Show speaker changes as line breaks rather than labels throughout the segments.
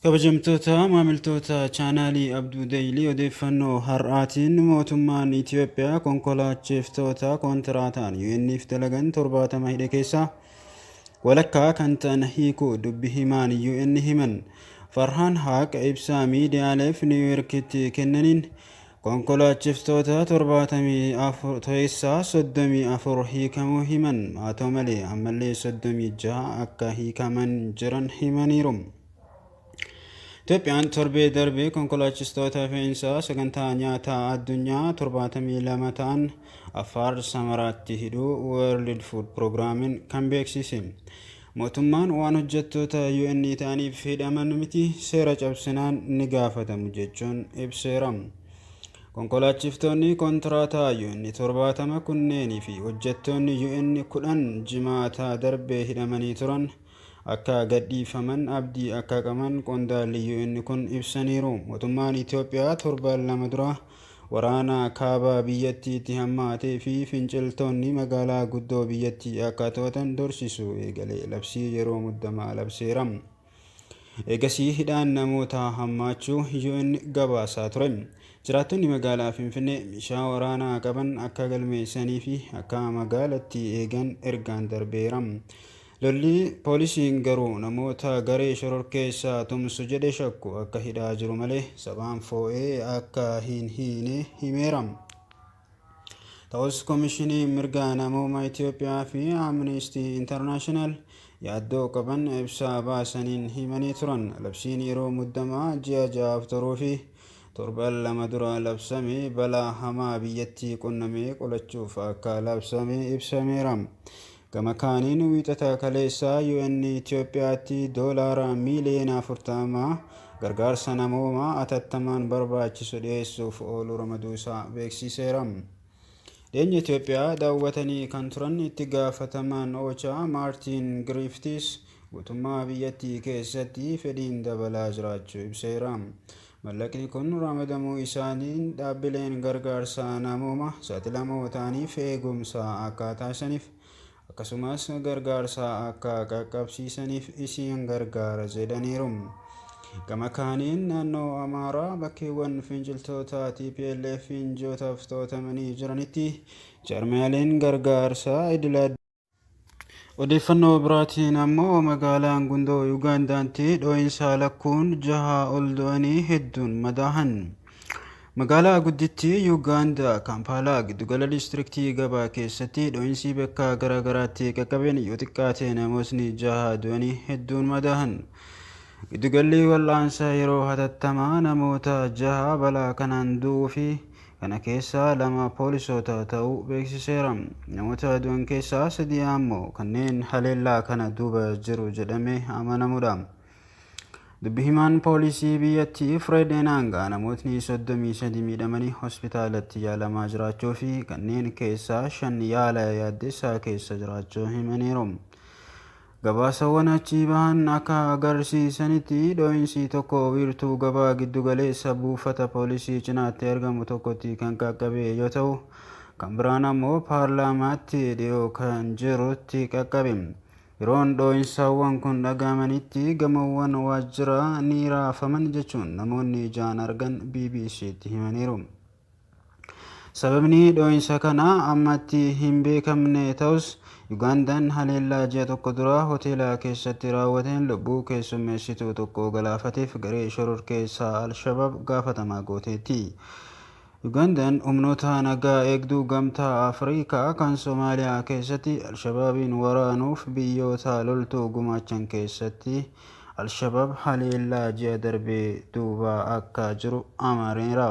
Kabajamtoota maamiltoota chaanaalii Abduu Deeyilii odeeffannoo har'aatiin mootummaan Itoophiyaa konkolaachiftootaa kontiraataan UN'f dalagan 70 hidhe keessaa walakkaa kan ta'an hiikuu dubbi himaan UN himan. Farhaan Haaq ibsaa miidiyaaleef Niwuyoorkitti kennaniin Konkolaachiftoota 74 keessaa 34 hiikamuu himan. Haa ta'u malee ammallee 36 akka hiikaman jiran himaniiru. Itoophiyaan torbee darbe konkolaachistoota fe'insaa sagantaa nyaataa addunyaa 72 ta'an Affaar Samaraatti hidhuu World Food Program'n kan beeksise. Mootummaan waan hojjettoota UN ta'aniif hidhaman miti, seera cabsinaan ni gaafatamu jechuun ibseera. Konkolaachiftoonni kontiraataa UN 70 kunneenii fi hojjettoonni UN 10 Jimaata darbe hidhamanii turan akka gadhiifaman abdii akka qaban qondaalli UN kun ibsaniiru. Mootummaan Itoophiyaa torban lama dura Waraana kaaba biyyattiitti hammaatee fi finciltoonni magaalaa guddoo biyyattii akka to'atan dorsisu eegale labsii yeroo muddamaa labseera. Eegasii hidhaan namootaa hammaachuu UN gabaasaa ture. Jiraattonni magaalaa Finfinnee meeshaa waraanaa qaban akka galmeessanii fi akka magaalattii eegan ergaan darbeera. Lolli poolisiin garuu namoota garee shororkeessaa tumsu jedhe shakku akka hidhaa jiru malee sabaan foo'ee akka hin hiine himeera. Ta'us Komishiniin Mirga Namoomaa Itoophiyaa fi Amnestii Intarnaashinaal yaaddoo qaban ibsaa baasaniin himanii turan. Labsiin yeroo muddamaa ji'a ja'aaf turuu fi torban lama dura labsame balaa hamaa biyyattii qunname qolachuuf akka labsame ibsameera. Gama kaaniin wiixata kaleessaa UN Itoophiyaatti doolaara miiliyoona 40 gargaarsa namoomaa atattamaan barbaachisu dhiyeessuuf oolu ramaduusaa beeksiiseera. Dhiyeenya Itoophiyaa daawwatanii kan turan itti gaafatamaan OCHA Maartiin Giriiftiis guutummaa biyyattii keessatti fedhiin dabalaa jiraachuu ibseera. Mallaqni kun ramadamuu isaatiin dhaabbileen gargaarsa namooma saaxilamoo ta'aniif eegumsa akka taasisaniif akkasumas gargaarsa akka qaqqabsiisaniif isiin gargaara jedhaniiru. Gama kaaniin naannoo Amaaraa bakkeewwan finciltoota TPLF'n ji'ootaaf to'atamanii jiranitti jaarmiyaaleen gargaarsaa idil Odeeffannoo biraatiin ammoo magaalaan Gundoo Yugaandaanti dhoo'insaa lakkuun jahaa ol du'anii hedduun madaahan. Magaalaa guddittii Yugaandaa Kaampaalaa giddugala diistiriktii gabaa keessatti dhoo'insii bakka garaa garaatti qaqqabeen yoo xiqqaate namootni jahaa du'anii hedduun madaahan. Giddugalli wal'aansa yeroo hatattamaa namoota jahaa balaa kanaan du'uu fi Kana keessaa lama poolisoota ta'uu beeksiseera. Namoota du'an keessaa sadii ammoo kanneen haleellaa kana duuba jiru jedhamee amanamudha. Dubbi himaan poolisii biyyattii Fred Enanga namootni 33 miidhamanii hospitaalatti yaalamaa jiraachuu fi kanneen keessaa shan yaala yaaddessaa keessa jiraachuu himaniiru. Gabaasawwan achii bahan akka agarsiisanitti dho'insii tokko wiirtuu gabaa giddu galeessa buufata poolisii cinaatti argamu tokkotti kan qaqqabe yoo ta'u, kan biraan ammoo paarlaamaatti dhiyoo kan jirutti qaqqabe. Yeroon dho'insaawwan kun dhaga'amanitti gamoowwan waajjiraa ni raafaman jechuun namoonni ijaan argan BBC'tti himaniiru. Sababni dhoo'insa kanaa ammatti hin beekamne ta'us, Yugaandaan haleellaa ji'a tokko dura hoteela keessatti raawwateen lubbuu keessummeessituu tokko galaafateef garee shororkeessaa al-Shabaab gaafatamaa gooteetti. Yugaandaan humnoota nagaa eegduu Gamtaa Afrikaa kan Somaaliyaa keessatti al-Shabaabiin waraanuuf biyyoota loltuu gumaachan keessatti Al-Shabaab haleellaa ji'a darbe duuba akka jiru amaneera.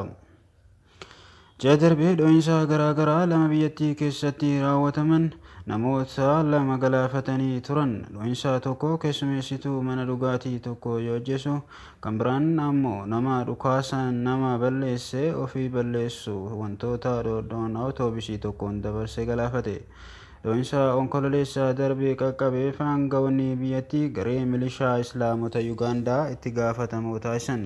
Ji'a darbe dho'insa garaa garaa lama biyyattii keessatti raawwataman namoota lama galaafatanii turan. Dho'insa tokko keessumeessituu mana dhugaatii tokko yoo ajjeesu, kan biraan ammoo nama dhukaasaan nama balleesse ofii balleessu wantoota dhoodhoon awutoobisii tokkoon dabarse galaafate. Dho'insa Onkololeessa darbe qaqqabeef aanga'oonni biyyattii garee milishaa Islaamota Yugaandaa itti gaafatamoo taasisan.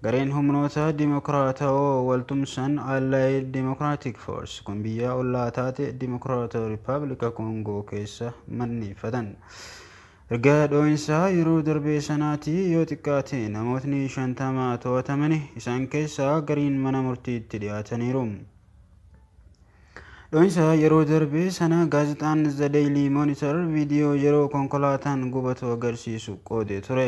Gareen humnoota dimokiraatawoo wal tumsan Allied Democratic Force kun biyya ollaa taate Dimokiraatawaa Rippaabilika Koongoo keessa manneeffatan. Erga dho'insa yeroo darbee sanaatii yoo xiqqaate namootni 50 to'atamani, isaan keessaa gariin mana murtiitti dhiyaataniiru. Dho'insa yeroo darbe sana gaazexaan The Daily Monitor viidiyoo yeroo konkolaataan gubatu agarsiisu qoodee ture.